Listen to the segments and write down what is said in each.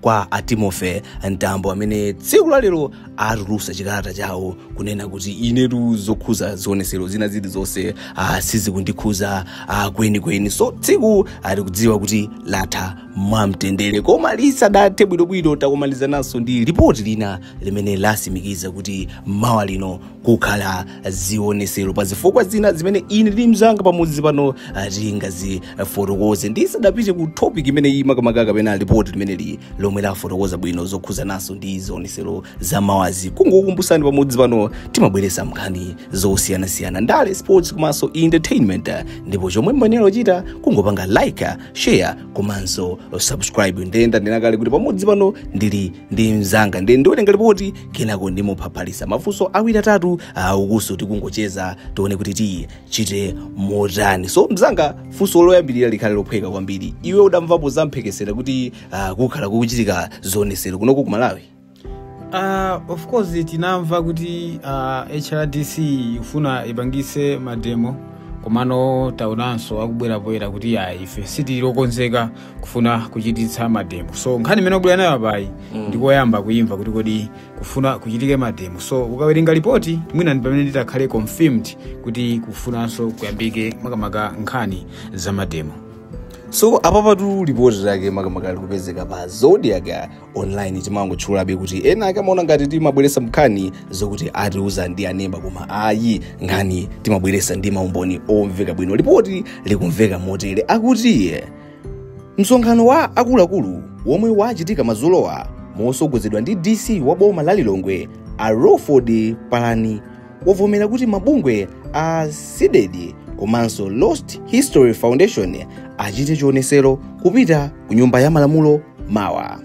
kwa a timothy mtambo amene tsiku la lero atulutsa chikalata chawo kunena kuti inetu zokhuza zionesero zina zili zonse ah, sizikundikhuza ah, kwenikweni so tsiku tikudziwa kuti latha mwamtendere koma lisadathe bwinobwino takumanizananso ndi ripoti lina limene lasimikiza kuti mawa lino kukhala zionesero pa zifukwa zina zimene ine ndi mzanga pamodzi pano ah, tingazifotokoze ndisadapite ku topic imene iyi makamaka kapena lipoti limeneli lomwe lafotokoza bwino zokhuzananso ndi zionesero za mawazi kungokumbusani pamodzi pano timabweresa nkhani zosiyanasiyana ndale sports komanso entertainment ah, ndipo chomwe muyenera kuchita kungopanga like ah, share komanso subscribe nde ndanena kale kuti pamodzi pano ndili ndi mzanga nde ndiwerenga lipoti kenako ndimuphaphalisa mafunso awiri atatu ukuso tikungocheza tione kuti tichite motani so mzanga funso loyambirira likhale lophweka kwambiri iwe udamvapo zamphekesera kuti uh, kukhala kukuchitika zionesero kunoko ku malawi Uh, of course tinamva kuti uh, hrdc ifuna ipangise mademo komano taonanso akubwera poyera kuti ayi ife sitili okonzeka kufuna kuchititsa mademo so nkhani imene ubwera nayo apayi ndikoyamba kuyimva kuti kodi kufuna kuchitike mademo so ukawerenga lipoti mwina ndi pamene nditakhale confirmed kuti kufunanso kuyambike makamaka nkhani za mademo so apapatu lipoti lake makamaka likupezeka pa zodiak online timangotchulabe kuti ena ake amaona ngati timabweresa nkhani zokuti atiuza ndi a neba koma ayi nkhani timabweresa ndi maumboni omveka bwino lipoti likumveka motere akuti msonkhano wa akuluakulu womwe wachitika mazulowa mosogozedwa ndi dc wa boma la lilongwe a lawford palani wavomera kuti mabungwe a cdedi komanso lost history foundation achite chionesero kupita ku nyumba ya malamulo mawa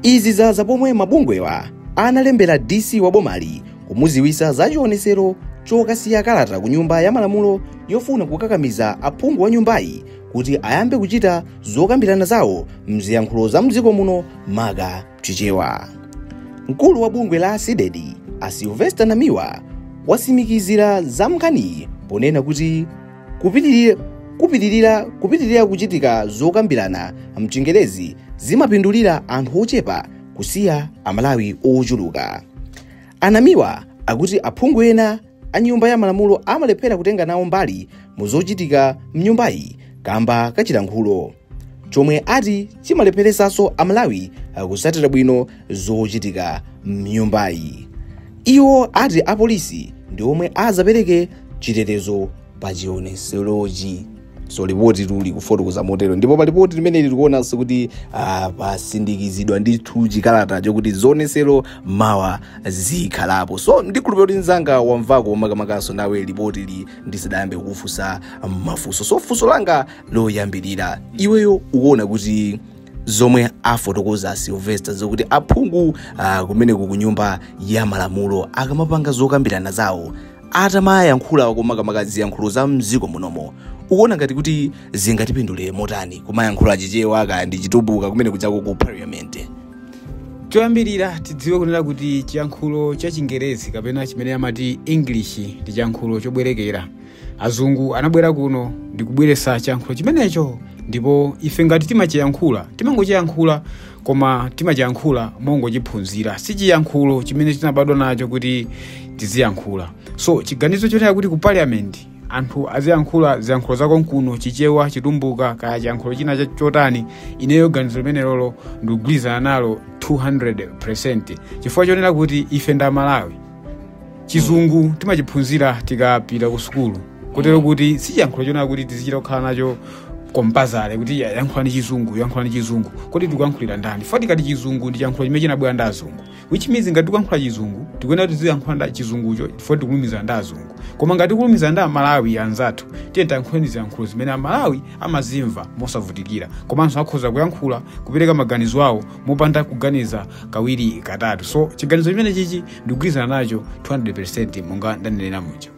izi zaza pomwe mabungwewa analembera dc wa bomali kumuziwisa za chionesero chokasiya kalata ku nyumba ya malamulo yofuna kukakamiza aphungu a nyumbayi kuti ayambe kuchita zokambirana zawo mziyankhulo za mdziko muno maka Chichewa. Mkulu wa bungwe la Cdedi a Sylvester Namiwa wasimikizira za nkhaniyi ponena kuti kupitirira kuchitika zokambirana mchingerezi zimapindulira anthu ochepa kusiya amalawi ochuluka a Namiwa akuti aphungu ena a nyumba ya malamulo amalephera kutenga nawo mbali mu zochitika mnyumbayi kamba ka chilankhulo chomwe ati chimalepheresanso amalawi kusatira bwino zochitika mnyumbayi iwo ati apolisi ndi omwe azapereke chitetezo pa chioneserochi so lipoti tu likufotokoza motero ndipo pa lipoti limeneli likuonanso kuti ah, patsindikizidwa ndithu chikalata chokuti zionesero mawa zikhalapo so ndikhulupirira kuti mzanga wamvako makamakaso nawe lipoti li ndisadayambe kukufunsa mafunso so funso langa loyambirira iweyo ukuona kuti zomwe afotokoza silvester zokuti aphungu ah, kumeneko ku nyumba ya malamulo akamapanga zokambirana zawo atamayankhulako makamaka ziyankhulo za mdziko munomo ukuona ngati kuti zingatipindulire motani kumayankhula chichewa kaya ndi chitumbuka kumene kujako ku parliament choyambirira tidziwe kunena kuti chiyankhulo cha chingerezi kapena chimene amati english ndi chiyankhulo chobwerekera azungu anabwera kuno ndikubweretsa chiyankhulo chimenecho ndipo ife ngati timachiyankhula timangochiyankhula koma timachiyankhula mongochiphunzira si chiyankhulo chimene tinabadwa nacho kuti tiziyankhula so chiganizo chonena kuti ku parliament anthu aziyankhula ziyankhulo za konkuno chichewa chitumbuka kaya chiyankhulo china cha- chotani ineyo ganizo limenelolo ndikugwirizana nalo 200% chifukwa chonena kuti ife ndi amalawi chizungu timachiphunzira tikapita ku sukulu kotero kuti si chiyankhulo chonena kuti tizichita kukhala nacho compulsory kuti ya- yankhulani chizungu yankhulani chizungu kodi tikuyankhulira ndani if tikati chizungu ndi chiyankhulo chimene chinabwera ndi azungu which means ngati tikuyankhula chizungu tikuyenera kuti tiziyankhula chizungucho if tikulumiza ndi azungu koma ngati tikulumiza ndi amalawi anzathu tiye tiyankhuleni ziyankhulo zimene amalawi amazimva mosavutikira komanso akhoza kuyankhula kupereka maganizo awo mopanda kuganiza kawiri katatu so chiganizo chimene chichi ndikugwirizana nacho 200% monga ndanenera muja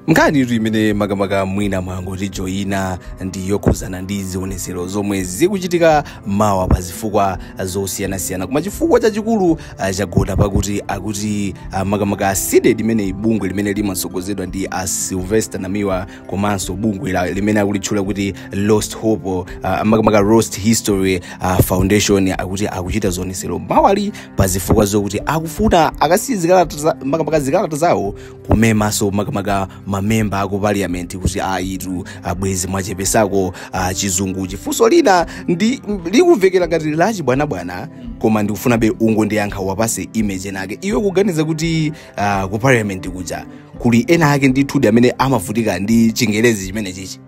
nkhani iri imene makamaka mwina mwangotijoyina ndi yokhuzana ndi zionetsero zomwe zikuchitika mawa pa zifukwa zosiyanasiyana koma chifukwa chachikulu ah, chagona pakuti akuti ah, makamaka CDEDI imene ndi bungwe limene limatsogozedwa ndi a sylvester namiwa komanso bungwe la- limene akulitchula kuti lost hope uh, makamaka lost history uh, foundation akuti akuchita zionetsero mawali pa zifukwa zokuti akufuna akasiye zikalata za- makamaka zikalata zawo kumema nso makamaka mamemba aku parliament kuti ayitu abwezi mwachepetsako uh, chizungu funso linali likumvekera ngati lachibwanabwana koma ndikufunabe ungondiyankha wapatse image nake iwe kuganiza kuti uh, ku parliament kuja kuli ena ake ndithu amene amavutika ndi chingerezi chimene chichi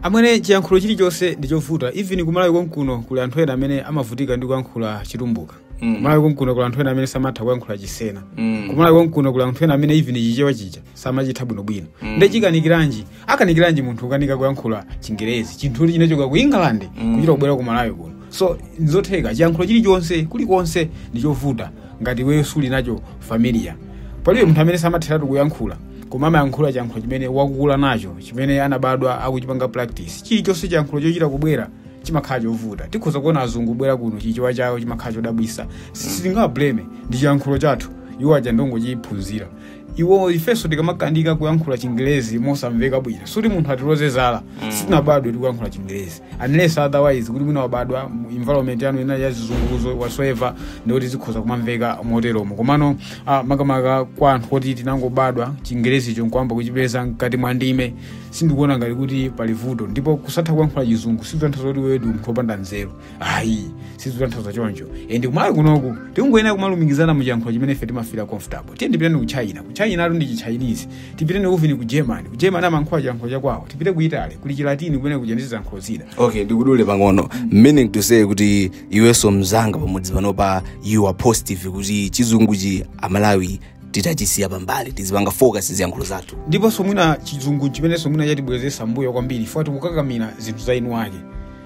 amwene chiyankhulo chilichonse ndi chovuta even kumalawi konkuno kuli anthu ena amene amavutika ndi kuyankhula chitumbuka Mm. kumalawi konkuno kuli anthu ena amene samatha kuyankhula chisena Mm. kumalawi konkuno kuli anthu ena amene even chichewa chija samachitha bwinobwino mm. nde chikanikiranji akanikiranji munthu kukanika kuyankhula chingerezi chinthu choti chinachoka ku england kuchita kubwera ku malawi kuno so nzotheka chiyankhulo chilichonse kulikonse ndi chovuta ngati iweyo suli nacho familiar palibe munthu amene samatheratu kuyankhula koma amayankhula chiyankhulo chimene wakukula nacho chimene anabadwa akuchipanga practice chilichonse chiyankhulo chochita kubwera chimakhala chovuta tikhoza kuona azungu obwera kuno chichewa chawo chimakhala chodabwisa sitingawablame si chiyankhulo chathu iwo aja ndongochiphunzira iwo ifenso tikamakanika kuyankhula chingelezi mosamveka bwino suti munthu atiloze zala sitinabadwe tikuyankhula chingelezi unless otherwise kuti mwina wabadwa mu environment ya mwina ya zizunguzo whatsoever ndikuti zikhoza kumamveka moteromo komano ah, makamaka kwa anthu oti tinangobadwa chingelezicho nkuyamba kuchipeza mkati mwa ndime sindikuona ngati kuti pali vuto ndipo kusatha kuyankhula chizungu sikutanthauza kuti ndiwe munthu opanda nzeru ayi sizikutanthauza choncho and kumalawi kunoku tikungoyenera kumalumikizana mu chiyankhulo chimene ife timafira comfortable tiye tipiteni ku china ku china atu ndi chichinese tipiteni even ku germany ku germany amayankhula chiyankhulo chakwawo tipite ku italy kuli chilatini kumene kuja ndi ziyankhulo zina okay ndikudule pang'ono meaning to say kuti iwenso mzanga pamodzi panopa you are positive kuti chizunguchi amalawi titachisiya pambali tizipanga focus ziyankhulo zathu ndiponso mwina chizungu chimenenso mwina chatibwezesa mbuyo kwambiri poti tikukakamira zinthu za eni ake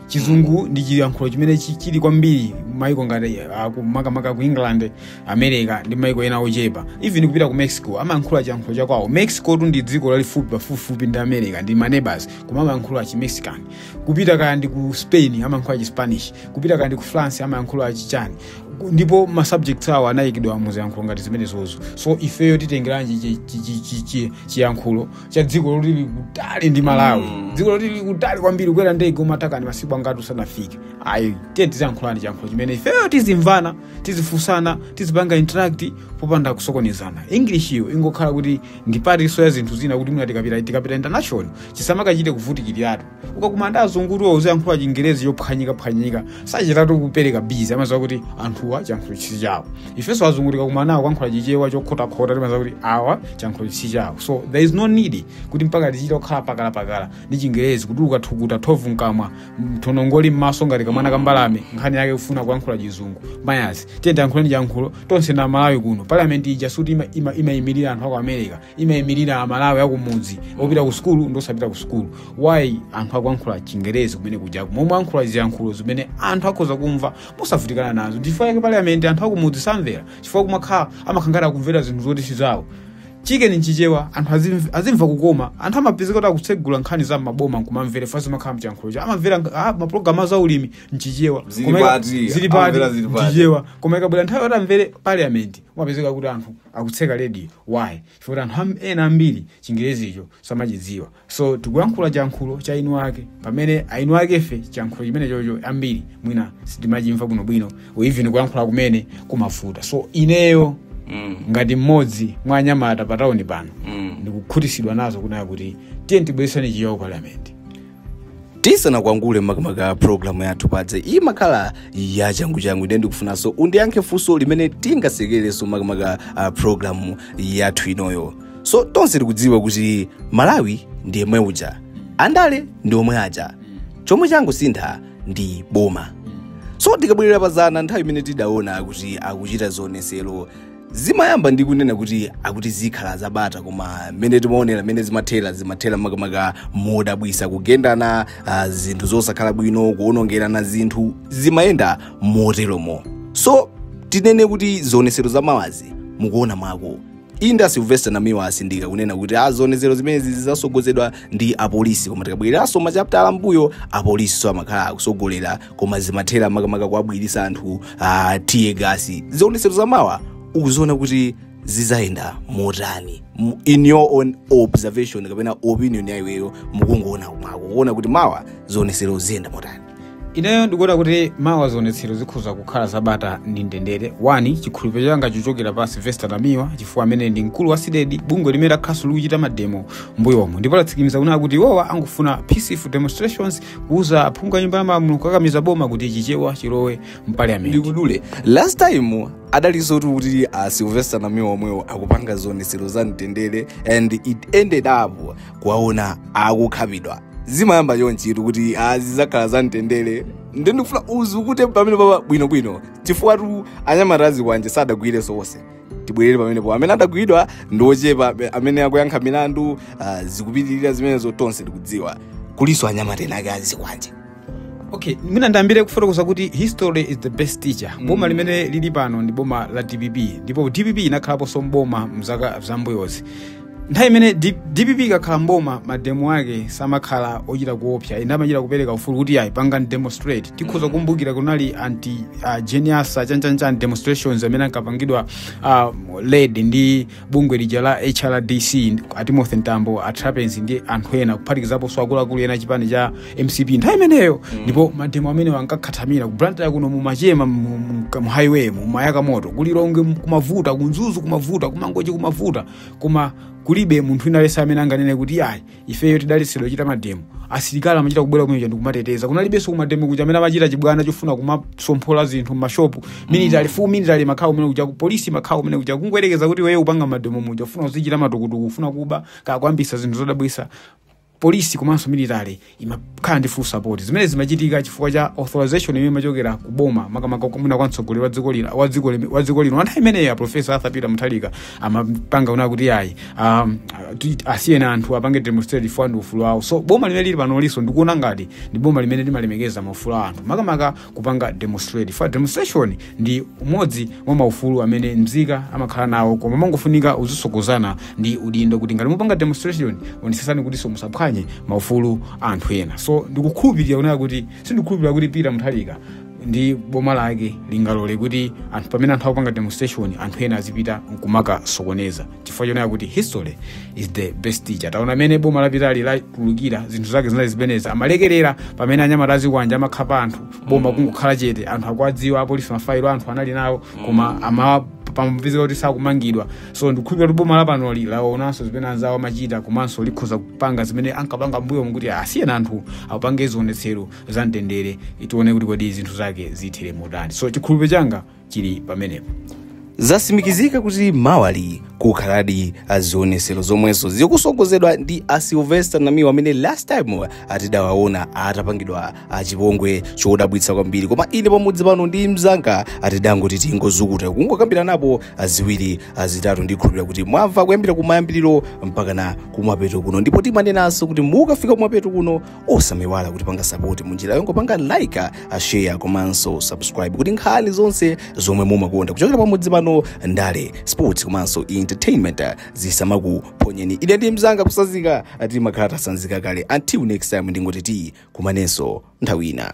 chizungu ndi chiyankhulo chimene chi- chili kwambiri maiko ngati ah, ku- makamaka ku england america ndi maiko ena ochepa even kupita ku mexico amayankhula chiyankhulo chakwawo mexicotu ndi dziko lalifupi pafupifupi ndi america ndi manebas koma amayankhula chimexican kupita kaya ndi ku spain amayankhula chispanish kupita kaya ndi ku france amayankhula chichani Ku- ndipo ma subjects awo anayikidwa mu ziyankhulo ngati zimenezozo so ifeyo titengeranji chi- chi- chi- chi- chi- chiyankhulo cha dziko loti lili kutali ndi malawi Mm. dziko loti lili kutali kwambiri kukwera ndege umatakani masiku angati usanafike ayi tiye tiziyankhulani chiyankhulo chimene ifeyo tizimvana tizifunsana tizipanga interact popanda kusokonezana english iyo ingokhala kuti ndi partinso ya zinthu zina kuti mwina tikapita tikapita international chisamakachite kuvutikiratu ukakumana ndi azungutuwa uziyankhula chingerezi chophwanyikaphwanyika sachitatu kuseka because amaziwa kuti anthuwa chiyankhulochi si chawo ifenso azungu tikakumana nawo kuyankhula chichewa chokhotakhota timaziwa kuti awa chiyankhulochi si chawo so there is no need kuti mpaka tichita kukhala pakalapakala ndi chingerezi kutuluka thukuta thovu mkamwa manthongo ali mmaso ngati kamwana kambalame nkhani yake kufuna kuyankhula chizungu mayazi tiye tiyankhuleni chiyankhulo tonse ndi amalawi kuno parliament ija suti imayimirira ima, anthu aku america imayimirira amalawi akumudzi opita ku sukulu ndosapita ku sukulu why anthu akuyankhula chingerezi kumene kujaku momwe ayankhula ziyankhulo zimene anthu akhoza kumva mosavutikana nazo chifukwa chake parliament anthu akumudzi samvera chifukwa kumakhala amakhala ngati akumvera zinthu zoti si zawo chiikeni mchichewa anthu azimv- azimva kukoma anthu amapezeka kuti akutsegula nkhani za maboma nkumamvera because zimakhala mchiyankhulo cha amamvera ah, mapulogalamu za ulimi mchichewa Zili Koma ika- pati, zili pati amamvera zili pati. mchichewa koma ikabwera nthawi yoti amvere parliament umapezeka kuti anthu akutseka radio why chifukwa kuti anthu am- ena ambiri chingerezicho samachidziwa so tikuyankhula chiyankhulo cha eni ake pamene eni akefe chiyankhulo chimenechocho ambiri mwina sitimachimva bwinobwino or even kuyankhula kumene kumavuta so ineyo Mm. ngati mmodzi mwa anyamata pa tauni pano Mm. ndikukhutisidwa nazo kunena kuti tiyeni tibwereseni chichewa parliament tisanakwangule makamaka programu yathu paja imakhala yachanguchangu nde ndikufunanso undiyankhe funso limene tingasekereso makamaka uh, programu yathu inoyo so tonse tikudziwa kuti malawi ndi yemwe uja andale ndi omwe aja chomwe changosintha ndi boma so tikabwerera pazana nthawi imene tidaona kuti akuchita zionesero zimayamba ndi kunena kuti akuti zikhala zabata koma mmene timaonera mmene zimathera zimathera makamaka modabwisa kugendana uh, zinthu zosakhala bwino kuonongerana zinthu zimayenda moteromo so tinene kuti zionesero za mawazi mukuona mwako inde a silvester namiwa asindika kunena kuti ah, zionetsero zimenezi zizasogozedwa ndi apolisi koma tikabwereranso machaputala ambuyo apolisiso amakhala akusogolera koma zimathera makamaka kuwabwiritsa anthu tear gas zionetsero zamawa ukuziona kuti zizayenda motani M- in your own observation kapena opinion ya iweyo mukungoona mwako kuona kuti mawa zionetsero ziyenda motani ineyo ndikuona kuti mawa zionetsero zikhoza kukhala zabata ndi mtendere one chikhulupiriro changa chochokera pa silvester namiwa chifukwa amene ndi mkulu wa cdedi bungwe limene lakhalaso likuchita mademo mbuyomo ndipo latsikimiza kunena kuti iwowa angofuna peaceful demonstrations kuuza aphungu a nyumba ya malamulo kukakamiza boma kuti chichewa chilowe mpaliyamenti ndikudule last time adaliso kuti a sylvester namiwa omwewo akupanga zionetsero za mtendere and it ended up kuwaona akukhapidwa zimayamba chonchitu kuti zizakhala za mtendere nde ndikufuna uzukute pamenepapa bwinobwino chifukwatu anyamata azikwanje sadagwireso onse tibwerere pamenepo amene adagwidwa ndi ochepa amene akuyankha milandu ah, zikupitirira zimenezo tonse tikudziwa kulinso anyamata ena ake azikwanje okay mwina ndiyambire kufotokoza kuti history is the best teacher boma limene lili pano ndi boma la dpp ndipo dpp inakhalaponso mboma mzaka zambuyozi nthawi imene D- dpp ikakhala mboma mademo ake samakhala ochita kuopsa inde amachita kupereka ufulu kuti ayi pangani demonstrate tikhoza kukumbukira kunali anti uh, jane ansah chanchanchani demonstrations amene ankapangidwa uh, led ndi bungwe lija la hrdc a timothy mtambo a trapence ndi anthu ena kuphatikizapo akuluakulu ena a chipani cha mcp nthawi imeneyo ndipo mademo amenewa ankakhathamira ku blantyre kuno mumachema mu- mu- mu highway mumayaka moto ku lilongwe kumavuta ku mzuzu kumavuta ku mangochi kumavuta koma kulibe munthu wina aliyense amene anganene kuti ayi ifeyo tidaletsedwa kuchita mademo asilikali amachita kubwera kumene kuja ndikumateteza kunalibenso kumademo kuja amene amachita chibwana chofuna kumasomphola zinthu mmashopu military full military imakhala kumene kuja polisi imakhala kumene kuja kungoyerekeza kuti wewe upanga mademo muja ufuna uzichita matukutuku ufuna kuba kakwambisa zinthu zodabwisa polisi komanso military imakhala ndi full support zimene zimachitika chifukwa cha authorization imene imachokera ku boma makamaka kumene kwa mtsogoleri wa dziko lino nthawi imeneyo a professor Arthur Peter Mutharika amapanga wona kuti ayi um, ti- asiyeni anthu apange demonstrate chifukwa ndi ufulu wawo so boma limene lili panoli so ndikuona ngati ndi boma limene limalemekeza maufulu a anthu makamaka kupanga demonstrate fa demonstration ndi umodzi mwa maufulu amene mzika amakhala nawo koma umangofunika uzitsogozana ndi udindo kuti ngati mupanga demonstration onetsetsani kutinso musaphwanye maufulu a anthu ena so ndikukhulupirira kunena kuti sindikukhulupirira kuti Peter Mutharika ndi boma lake lingalole kuti anthu pamene anthu akupanga demonstration anthu ena azipita nkumakasokoneza chifukwa chonena kuti history is the best teacher taona mmene boma lapitali latulukila zinthu zake zinali zimenezi amalekerera pamene anyamata azikwanja amakhapa anthu boma kungokhala chete anthu akuwadziwa apolisi mafailo a anthu anali nawo koma ama pamapezeka kuti sakumangidwa so ndikukhulupira kuti boma lapanoli laonanso zimene anzawo amachita komanso likhoza kupanga zimene ankapanga mbuyomu kuti asiyeni anthu apange zionetsero za mtendere tione kuti kodi zinthu zake zithera motani so chikhulupiriro changa chili pamenepo zatsimikizika kuti mawali kukhaladi zionetsero zomwenso zikutsogozedwa ndi a sylvester namiwa amene last time atidawaona atapangidwa chipongwe chodabwitsa kwambiri koma ine pamudzi pano ndi mzanga tidangoti tingozukuta kungokambiranapo ziwiri zitatu ndikhulupira kuti mwamva kuyambira kumayambiriro mpakana kumapeto kuno ndipo timanenanso kuti mukafika kumapeto kuno osamaiwala kutipanga sapoti munjira yongopanga like share komanso subscribe kuti nkhani zonse zomwe mumakonda kuchokera pamudzi pano ndale sports komanso entertainment zisamakuphonyeni ine ndi mzanga kutsanzika timakhala tatsanzika kale until next time ndingoti tikumanenso nthawi ina